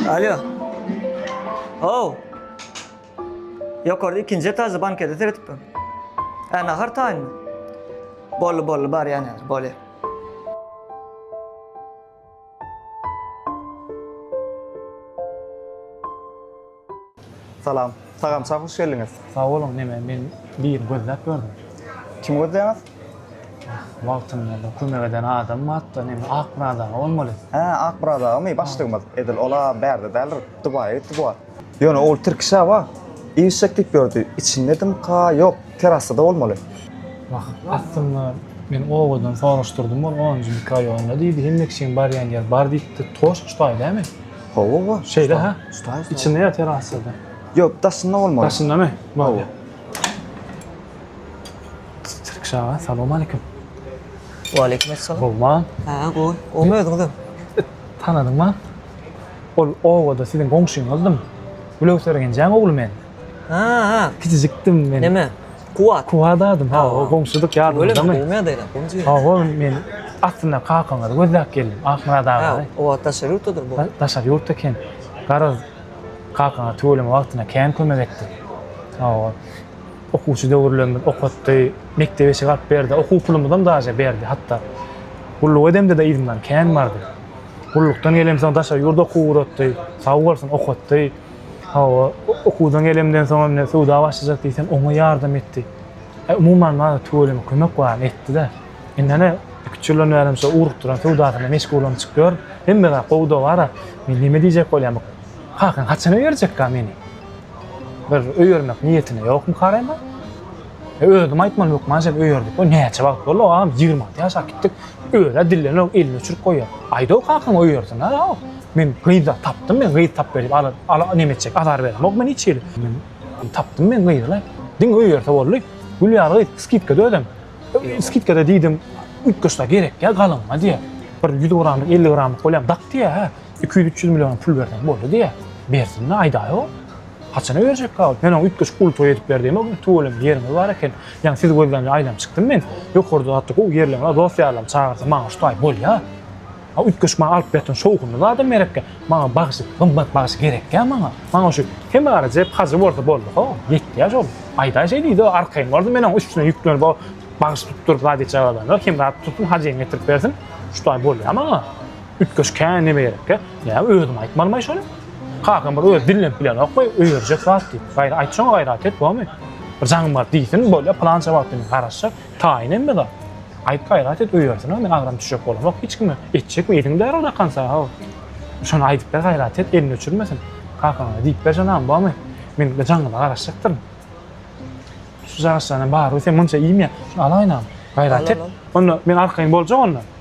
Alo. Oh. Ýokarda ikinji etajda bankede seretip dur. Hä, nahar taýynmy? Bolly, bolly, bar ýany, bolly. Salam. Sagamça hoş geldiňiz. Sag boluň, neme men birini gözläp ýördüm. Kimi gözleýäňiz? Wagtynda kömek eden adam batda neme ak biraz aga bolmaly. Hä ak biraz agamy başlygymyz edil ola bärde däldir dubaýa gitdi bu wagt. Ýöne ol tirki şaba işjek diýip ýördi içindedimka ýok terasada bolmaly. Wah aslynda men owadan soraşdyrdym ol onunjy mikroýolynda diýdi hemmekiçiň barýan ýer bar diýipdi toşk ştaý dämi. Hawa, hawa. Şeýle ha? Usta, usta. Içinde ýatyr aslynda. Ýok, daşynda bolmaly. Daşyndamy? Hawa. Tirkiş aga, salam aleýkum. Wa aleýkum essalam. Gowma? Ha, gowy. Gowmy özüňizem? Tanadyňmy? Ol obada siziň goňşyňyzdym. Gülöwser genjeň ogly men. Ha, ha. Kiçijikdim men. Näme? Kuwat. Kuwat adym. Ha, o goňşudyk ýadymyzdamy? Öýlemi? Gowmy ýagdaýlar? Goňşy ýeri. Hawa, men aslynda kakaňyzy gözläp geldim. Ahmyrat agany. O wagt daşary ýurtdadyr bu. Daşary ýurtda eken. Garaz, kakaňa tüweleme wagtynda kän kömek etdi. Hawa. Okuwçy döwürlerimiz okatdy, mekdebe eşik alyp berdi, okuw pulumyzam daže berdi hatda. Gulluk edemde-de yzymdan kän bardy. Gullukdan gelemsoň daşary ýurda okuw ugratdy. Sag bolsun, okatdy. Hawa, okuwdan gelemden soň hem söwda başlajak diýsem, oňa ýardam etdi. Umuman, maňa tüweleme kömek baryny etdi-de. Indi ene, iki-üç ýyldan bäri hem şo ugrukdyran söwdasyna meşgullanyşyp ýör. Hemme zat gowy-da bar-a. Men näme diýjek bolýan, bu kakaň haçana berjekkä meni? Bir öýermek niýetine ýokmyka Rema? Özüm aýtman hökman sen öýerdik. O näçe wagt boldy agam? 20 alty ýaşap gitdik. Öýe dillenok, elini uçuryp goýýar. Aýda o kakaň öýersin ha. Men gyz da tapdym, men gyz tap berip ala ala näme etjek? Azar beremok men hiç hili. Men tapdym men gyzy. Diňe öýerse boldy. Gülýar gyz skidkada özem. Skidkada diýdim, üýtgeşse gerek ýa galynma diýýär. Bir 100 gramlyk, 50 gramlyk bolýam dak diýýär. Hä, 200-300 million pul berseň boldy diýýär. Bersin-le, aýdaý o. Haçana berjekka ol? Men oňa üýtgeşik uly toý edip berdiýem o gün. Tüweleme ýeriňiz bar eken. Ýaňy sizi gözlämde aýlanyp çykdym men. Ýokarda zatda gowy ýerleň bar, dost-ýarlarymy çagyrsa maňa şu taý bolýa. A üýtgeşik maňa alyp berseň şowhunly zadam gerekkä. Maňa bagşy, gymmat bagşy gerekkä maňa. Maňa şu Hemaryjep hajy bolsa boldy-ha, ýetýä şol. Aýdaý şeýdidi-o, arkaýyn boldy, men oň üstüne ýüklenip o bagşy tutduryp zat etjek adamlar, Hemra tutsun, hajyňy getirip bersin, şu taý bolýa maňa. Üýtgeşik hä neme gerekkä? Näme özüm aýtmalymaý şony? Kakam bir öz dillenip bilenok goý, öýerjek zat diýip. Gaýra aýt şoňa gaýrat et bomy? Bir jaňym bar diýsin, bolýa pylança wagt diýip garaşjak. Taýyn hemme zat. Aýt gaýrat et öýersin ha, men agram düşjek bolamok hiç kime. Etjekmi ediň bäri o dakansa haw. Şony aýdyp ber gaýrat et, elini öçürmesin. Kakaňa diýip ber janagym bomy? Men bir jaňyma garaşjakdyryn. Şu jagşylaryň hem baryby sen munça iýme. Şuny alaýynam. Gaýrat et. Onda men arkaýyn boljak onda.